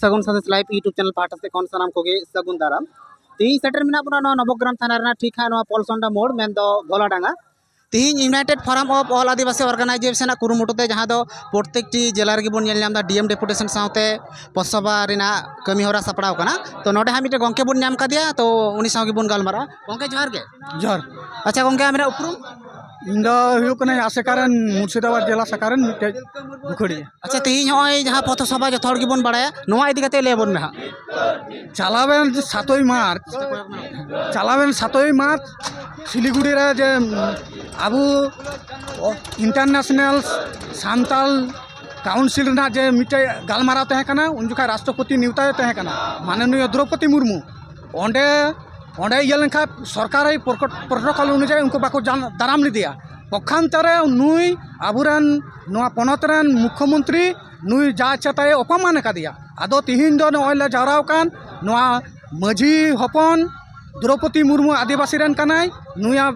ᱥᱟᱹᱜᱩᱱ Sandesh live YouTube channel ᱯᱟᱦᱴᱟ ᱥᱮᱫ ᱠᱷᱚᱱ ᱥᱟᱱᱟᱢ ᱠᱚᱜᱮ ᱥᱟᱹᱜᱩᱱ ᱫᱟᱨᱟᱢ ᱛᱮᱦᱮᱧ ᱥᱮᱴᱮᱨ ᱢᱮᱱᱟᱜ ᱵᱚᱱᱟ ᱱᱚᱣᱟ ᱱᱚᱵᱚᱜᱨᱟᱢ ᱛᱷᱟᱱᱟ ᱨᱮᱱᱟᱜ ᱴᱷᱤᱠ ᱦᱟᱸᱜ ᱱᱚᱣᱟ ᱯᱚᱞᱥᱚᱱᱰᱟ ᱢᱳᱲ ᱢᱮᱱᱫᱚ ᱜᱚᱞᱟᱰᱟᱸᱜᱟ ᱛᱮᱦᱮᱧ united forum of all Adivasi organisation ᱟᱜ ᱠᱩᱨᱩᱢᱩᱴᱩ ᱛᱮ ᱡᱟᱦᱟᱸ ᱫᱚ ᱯᱨᱚᱛᱮᱠᱴᱤ ᱡᱮᱞᱟ ᱨᱮᱜᱮ ᱵᱚᱱ ᱧᱮᱞ ᱧᱟᱢ ᱮᱫᱟ ᱰᱤ ᱮᱢ ᱰᱮᱯᱩᱴᱮᱥᱚᱱ ᱥᱟᱶᱛᱮ ᱯᱚᱥᱚᱵᱟ ᱨᱮᱱᱟᱜ ᱠᱟᱹᱢᱤ ᱦᱚᱨᱟ ᱥᱟᱯᱲᱟᱣ ᱠᱟᱱᱟ ᱛᱚ ᱱᱚᱰᱮ ᱦᱟᱸᱜ ᱢᱤᱫᱴᱮᱱ ᱜᱚᱢᱠᱮ ᱵᱚᱱ ᱧᱟᱢ ᱠᱟᱫᱮᱭᱟ ᱛᱚ ᱩᱱᱤ ᱥᱟᱶ ᱜᱮᱵᱚᱱ ᱜᱟᱞᱢᱟᱨᱟᱜᱼᱟ ᱜᱚᱝᱠᱮ ᱡᱚᱦᱟᱨ ᱜᱮ ᱡᱚᱦᱟᱨ ᱟᱪᱪᱷᱟ ᱜᱚᱝᱠᱮ ᱟᱢ ᱨᱮᱱᱟᱜ ᱩᱯᱨᱩᱢ ᱤᱧ ᱫᱚ ᱦᱩᱭᱩᱜ ᱠᱟᱱᱟ ᱟᱥᱮᱠᱟ ᱨᱮᱱ ᱢᱩᱨᱥᱤᱫᱟᱵᱟᱫ ᱡᱮᱞᱟ ᱥᱟᱠᱟ ᱨᱮᱱ ᱢᱤᱫᱴᱮᱡ ᱵᱩᱠᱷᱟᱹᱲᱤᱭᱟᱹ ᱟᱪᱪᱷᱟ ᱛᱮᱦᱮᱧ ᱱᱚᱜᱼᱚᱭ ᱡᱟᱦᱟᱸ ᱯᱚᱛᱷᱚ ᱥᱚᱵᱷᱟ ᱡᱚᱛᱚ ᱦᱚᱲ ᱜᱮᱵᱚᱱ ᱵᱟᱲᱟᱭᱟ ᱱᱚᱣᱟ ᱤᱫᱤ ᱠᱟᱛᱮ ᱞᱟᱹᱭ ᱟᱵᱚᱱ ᱢᱮ ᱦᱟᱸᱜ ᱪᱟᱞᱟᱣᱮᱱ ᱡᱮ ᱥᱟᱛᱳᱭ ᱢᱟᱨᱪ ᱪᱟᱞᱟᱣᱮᱱ ᱥᱟᱛᱳᱭ ᱢᱟᱨᱪ শিলিগুড়ি ᱨᱮ ᱡᱮ ᱟᱵᱚ ᱤᱱᱴᱟᱨᱱᱮᱥᱱᱟᱞ ᱥᱟᱱᱛᱟᱞ ᱠᱟᱣᱩᱱᱥᱤᱞ ᱨᱮᱱᱟᱜ ᱡᱮ ᱢᱤᱫᱴᱮᱡ ᱜᱟᱞᱢᱟᱨᱟᱣ ᱛᱟᱦᱮᱸ ᱠᱟᱱᱟ ᱩᱱ ᱡᱚᱠᱷᱟᱡ ᱨᱟᱥᱴᱨᱚᱯᱚᱛᱤ ᱱᱮᱣᱛᱟᱭᱮ ᱛᱟᱦᱮᱸ ᱠᱟᱱᱟ ᱢᱟᱱᱚᱱᱤᱭᱚ ᱫᱨᱳᱯᱚᱫᱤ ᱢᱩᱨᱢᱩ ᱚᱸᱰᱮ ᱚᱸᱰᱮ ᱤᱭᱟᱹ ᱞᱮᱱᱠᱷᱟᱡ ᱥᱚᱨᱠᱟᱨ ᱮ ᱯᱨᱳᱴᱳᱠᱚᱞ ᱚᱱᱩᱡᱟᱭᱤ ᱩᱱᱠᱩ ᱵᱟᱠᱚ ᱫᱟᱨᱟᱢ ᱞᱮᱫᱮᱭᱟ ᱯᱚᱠᱠᱷᱟᱱᱛᱚ ᱨᱮ ᱱᱩᱭ ᱟᱵᱚ ᱨᱮᱱ ᱱᱚᱣᱟ ᱯᱚᱱᱚᱛ ᱨᱮᱱ ᱢᱩᱠᱠᱷᱚ ᱢᱚᱱᱛᱨᱤ ᱱᱩᱭ ᱡᱟ ᱤᱪᱪᱷᱟ ᱛᱟᱭ ᱚᱯᱚᱢᱟᱱ ᱠᱟᱫᱮᱭᱟ ᱟᱫᱚ ᱛᱮᱦᱮᱧ ᱫᱚ ᱱᱚᱜᱼᱚᱭ ᱞᱮ ᱡᱟᱣᱨᱟ ᱟᱠᱟᱱ ᱱᱚᱣᱟ ᱢᱟᱹᱡᱷᱤ ᱦᱚᱯᱚᱱ ᱫᱨᱳᱯᱚᱫᱤ ᱢᱩᱨᱢᱩ ᱟᱹᱫᱤᱵᱟᱹᱥᱤ ᱨᱮᱱ ᱠᱟᱱᱟᱭ ᱱᱩᱭᱟᱜ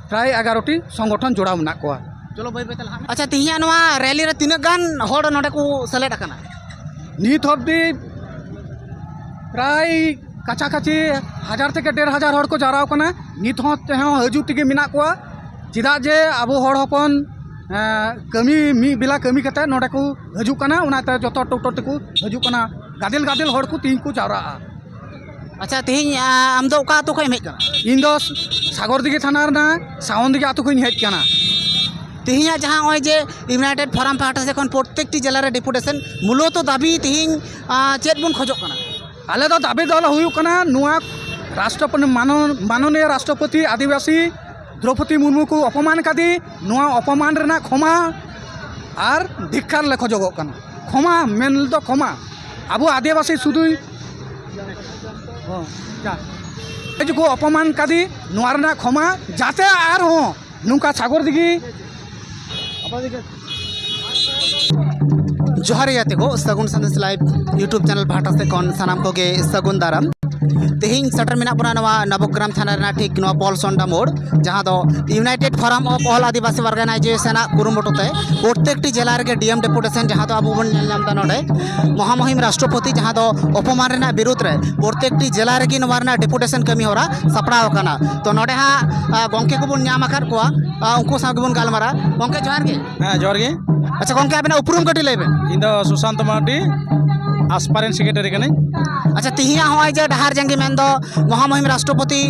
ᱯᱨᱟᱭ ᱮᱜᱟᱨᱚ ᱴᱤ ᱥᱚᱝᱜᱚᱴᱷᱚᱱ ᱡᱚᱲᱟᱣ ᱢᱮᱱᱟᱜ ᱠᱚᱣᱟ ᱪᱚᱞᱚ ᱵᱟᱹᱭ ᱵᱟᱹᱭᱛᱮ ᱞᱟᱦᱟᱜ ᱢᱮ ᱟᱪᱪᱷᱟ ᱛᱮᱦᱮᱧᱟᱜ ᱱᱚᱣᱟ ᱨᱮᱞᱤ ᱨᱮ ᱛᱤᱱᱟᱹᱜ ᱜᱟᱱ ᱦᱚᱲ ᱱᱚᱰᱮ ᱠᱚ ᱥᱮᱞᱮᱫ ᱟᱠᱟᱱᱟ ᱱᱤᱛ ᱚᱵᱫᱤ ᱯᱨᱟᱭ ᱠᱟᱪᱷᱟ ᱠᱟᱪᱷᱤ ᱦᱟᱡᱟᱨ ᱛᱷᱮᱠᱮ ᱰᱮᱲ ᱦᱟᱡᱟᱨ ᱦᱚᱲ ᱠᱚ ᱡᱟᱣᱨᱟᱣ ᱠᱟᱱᱟ ᱱᱤᱛ ᱦᱚᱸ ᱛᱮᱦᱚᱸ ᱦᱤᱡᱩᱜ ᱛᱮᱜᱮ ᱢᱮᱱᱟᱜ ᱠᱚᱣᱟ ᱪᱮᱫᱟᱜ ᱡᱮ ᱟᱵᱚ ᱦᱚᱲ ᱦᱚᱯᱚᱱ ᱠᱟᱹᱢᱤ ᱢᱤᱫ ᱵᱮᱞᱟ ᱠᱟᱹᱢᱤ ᱠᱟᱛᱮ ᱱᱚᱰᱮ ᱠᱚ ᱦᱤᱡᱩᱜ ᱠᱟᱱᱟ ᱚᱱᱟᱛᱮ ᱡᱚᱛᱚ ᱴᱳᱴᱳ ᱛᱮᱠᱚ ᱦᱤᱡᱩᱜ ᱠᱟᱱᱟ ᱜᱟᱫᱮᱞ ᱜᱟᱫᱮᱞ ᱦᱚᱲ ᱠᱚ ᱛᱮᱦᱮᱧ ᱠᱚ ᱡᱟᱣᱨᱟᱜᱼᱟ ᱟᱪᱪᱷᱟ ᱛᱮᱦᱮᱧ ᱟᱢ ᱫᱚ ᱚᱠᱟ ᱟᱹᱛᱩ ᱠᱷᱚᱱ ᱮᱢ ᱦᱮᱡ ᱠᱟᱱᱟ ᱤᱧ ᱫᱚ ᱥᱟᱜᱚᱨᱫᱤᱜᱷᱤ ᱛᱷᱟᱱᱟ ᱨᱮᱱᱟᱜ ᱥᱟᱣᱚᱱᱫᱤᱜᱷᱤ ᱟᱹᱛᱩ ᱠᱷᱚᱱᱤᱧ ᱦᱮᱡ ᱠᱟᱱᱟ ᱛᱮᱦᱮᱧᱟᱜ ᱡᱟᱦᱟᱸ ᱱᱚᱜᱼᱚᱭ ᱡᱮ ᱤᱭᱩᱱᱟᱭᱴᱮᱰ ᱯᱷᱳᱨᱟᱢ ᱯᱟᱦᱴᱟ ᱥᱮᱫ ᱠᱷᱚᱱ ᱯᱨᱚᱛᱮᱠᱴᱤ ᱡᱮᱞᱟ ᱨᱮ ᱰᱮᱯᱩᱴᱮᱥᱮᱱ ᱢᱩᱞᱚᱛᱚ ᱫᱟᱹᱵᱤ ᱛᱮᱦᱮᱧ ᱪᱮᱫ ᱵᱚᱱ ᱠᱷᱚᱡᱚᱜ ᱠᱟᱱᱟ ᱟᱞᱮ ᱫᱚ ᱫᱟᱹᱵᱤ ᱫᱚ ᱦᱩᱭᱩᱜ ᱠᱟᱱᱟ ᱱᱚᱣᱟ ᱨᱟᱥᱴᱨᱚᱯᱚᱛᱤ ᱢᱟᱱᱚᱱᱤᱭᱚ ᱨᱟᱥᱴᱨᱚᱯᱚᱛᱤ ᱟᱹᱫᱤᱵᱟᱹᱥᱤ ᱫᱨᱳᱯᱚᱫᱤ ᱢᱩᱨᱢᱩ ᱠᱚ ᱚᱯᱚᱢᱟᱱ ᱠᱟᱫᱮ ᱱᱚᱣᱟ ᱚᱯᱚᱢᱟᱱ ᱨᱮᱱᱟᱜ ᱠᱷᱚᱢᱟ ᱟᱨ ᱫᱷᱤᱠᱠᱟᱨ ᱞᱮ ᱠᱷᱚᱡᱚᱜᱚᱜ ᱠᱟᱱᱟ ᱠᱷᱚᱢᱟ ᱢᱮᱱ ᱫᱚ ᱠᱷᱚᱢᱟ ᱟᱵᱚ ᱟᱹᱫᱤᱵᱟᱹᱥᱤ ᱥᱩᱫᱷᱩ ᱠᱚ ᱚᱯᱚᱢᱟᱱ ᱠᱟᱫᱮ ᱱᱚᱣᱟ ᱨᱮᱱᱟᱜ ᱠᱷᱚᱢᱟ ᱡᱟᱛᱮ ᱟᱨᱦᱚᱸ ᱱᱚᱝᱠᱟ ᱥᱟᱜᱚᱨ ᱫᱤᱜᱷᱤ ᱡᱚᱦᱟᱨ ᱜᱟᱛᱮ ᱠᱚ Sagun Sandesh live YouTube channel ᱯᱟᱦᱴᱟ ᱥᱮᱫ ᱠᱷᱚᱱ ᱥᱟᱱᱟᱢ ᱠᱚᱜᱮ ᱥᱟᱹᱜᱩᱱ ᱫᱟᱨᱟᱢ ᱛᱮᱦᱮᱧ ᱥᱮᱴᱮᱨ ᱢᱮᱱᱟᱜ ᱵᱚᱱᱟ ᱱᱚᱣᱟ ᱱᱚᱵᱚᱜᱨᱟᱢ ᱛᱷᱟᱱᱟ ᱨᱮᱱᱟᱜ ᱴᱷᱤᱠ ᱱᱚᱣᱟ ᱯᱚᱞ ᱥᱚᱱᱰᱟ ᱢᱳᱲ ᱡᱟᱦᱟᱸ ᱫᱚ united forum of all Adivasi ᱚᱨᱜᱟᱱᱟᱭᱡᱮᱥᱚᱱᱟᱜ ᱠᱩᱨᱩᱢᱩᱴᱩ ᱛᱮ ᱯᱨᱚᱛᱮᱠᱴᱤ ᱡᱮᱞᱟ ᱨᱮᱜᱮ ᱰᱤᱮᱢ ᱰᱮᱯᱩᱴᱮᱥᱚᱱ ᱡᱟᱦᱟᱸ ᱫᱚ ᱟᱵᱚ ᱵᱚᱱ ᱧᱮᱞ ᱧᱟᱢ ᱮᱫᱟ ᱱᱚᱰᱮ ᱢᱚᱦᱟᱢᱚᱦᱤᱢ ᱨᱟᱥᱴᱨᱚᱯᱚᱛᱤ ᱡᱟᱦᱟᱸ ᱫᱚ ᱚᱯᱚᱢᱟᱱ ᱨᱮᱱᱟᱜ ᱵᱤᱨᱩᱫᱽ ᱨᱮ ᱯᱨᱚᱛᱮᱠᱴᱤ ᱡᱮᱞᱟ ᱨᱮᱜᱮ ᱱᱚᱣᱟ ᱨᱮᱱᱟᱜ ᱰᱮᱯᱩᱴᱮᱥᱚᱱ ᱠᱟᱹᱢᱤ ᱦᱚᱨᱟ ᱥᱟᱯᱲᱟᱣ ᱟᱠᱟᱱᱟ ᱛᱚ ᱱᱚᱰᱮ ᱦᱟᱸᱜ ᱜᱚᱝᱠᱮ ᱠᱚᱵᱚᱱ ᱧᱟᱢ ᱟᱠᱟᱫ ᱠᱚᱣᱟ ᱩᱱᱠᱩ ᱥᱟᱶ ᱜᱮᱵᱚᱱ ᱜᱟᱞᱢᱟᱨᱟ ᱜᱚᱝᱠᱮ ᱡᱚᱦᱟᱨ ᱜᱮ ᱦᱮᱸ ᱡᱚᱦᱟᱨ ᱜᱮ ᱟᱪᱪᱷᱟ ᱜᱚᱝᱠᱮ ᱟᱵᱮᱱᱟᱜ ᱩᱯᱨᱩᱢ ᱠᱟᱹᱴᱤᱡ ᱞᱟᱹᱭ ᱵᱮᱱ ᱤᱧ ᱫᱚ ᱥᱩᱥᱟᱱᱛ ᱢᱟᱨᱰᱤ ᱟᱥᱯᱟᱨᱮᱱ ᱥᱮᱠᱨᱮᱴᱟᱨᱤ ᱠᱟᱹᱱᱟᱹᱧ ᱟᱪᱪᱷᱟ ᱛᱤᱦᱤᱧᱟᱜ ᱱᱚᱜᱼᱚᱭ ᱡᱮ ᱰᱟᱦᱟᱨ ᱡᱟᱸᱜᱮ ᱢᱮᱱᱫᱚ ᱢᱚᱦᱟᱢᱚᱦᱤᱢ ᱨᱟᱥᱴᱨᱚᱯᱚᱛᱤ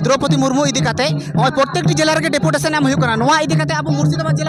ᱫᱨᱚᱯᱚᱫᱤ ᱢᱩᱨᱢᱩ ᱤᱫᱤ ᱠᱟᱛᱮ ᱱᱚᱜᱼᱚᱭ ᱯᱨᱚᱛᱮᱠᱴᱤ ᱡᱮᱞᱟ ᱨᱮᱜᱮ ᱰᱮᱯᱩᱴᱮᱥᱚᱱ ᱮᱢ ᱦᱩᱭᱩᱜ ᱠᱟᱱᱟ ᱱᱚᱣᱟ ᱤᱫᱤ ᱠᱟᱛᱮ ᱟᱵᱚ ᱢᱩᱨᱥᱤᱫᱟᱵᱟᱫᱽ ᱡᱮᱞᱟ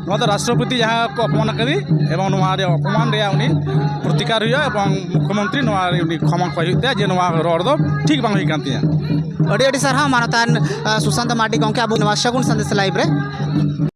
ᱱᱚᱣᱟ ᱫᱚ ᱨᱟᱥᱴᱨᱚᱯᱚᱛᱤ ᱡᱟᱦᱟᱸ ᱠᱚ ᱚᱯᱚᱢᱟᱱ ᱟᱠᱟᱫᱮ ᱮᱵᱚᱝ ᱱᱚᱣᱟ ᱨᱮᱭᱟᱜ ᱚᱯᱚᱢᱟᱱ ᱨᱮᱭᱟᱜ ᱩᱱᱤ ᱯᱨᱚᱛᱤᱠᱟᱨ ᱦᱩᱭᱩᱜᱼᱟ ᱮᱵᱚᱝ ᱢᱩᱠᱠᱷᱚ ᱢᱚᱱᱛᱨᱤ ᱱᱚᱣᱟ ᱩᱱᱤ ᱠᱷᱚᱢᱟ ᱠᱚᱭ ᱦᱩᱭᱩᱜ ᱛᱟᱭᱟ ᱡᱮ ᱱᱚᱣᱟ ᱨᱚᱲ ᱫᱚ ᱴᱷᱤᱠ ᱵᱟᱝ ᱦᱩᱭ ᱠᱟᱱ ᱛᱤᱧᱟᱹ ᱟᱹᱰᱤ ᱟᱹᱰᱤ ᱥᱟᱨᱦᱟᱣ ᱢᱟᱱᱚᱛᱟᱱ ᱥᱩᱥᱟᱱᱛᱚ ᱢᱟᱨᱰᱤ ᱜᱚᱢᱠᱮ ᱟᱵᱚ ᱱᱚᱣᱟ ᱥᱟᱹᱜᱩᱱ ᱥᱟᱸᱫᱮᱥ ᱞᱟᱭᱤᱵᱷ ᱨᱮ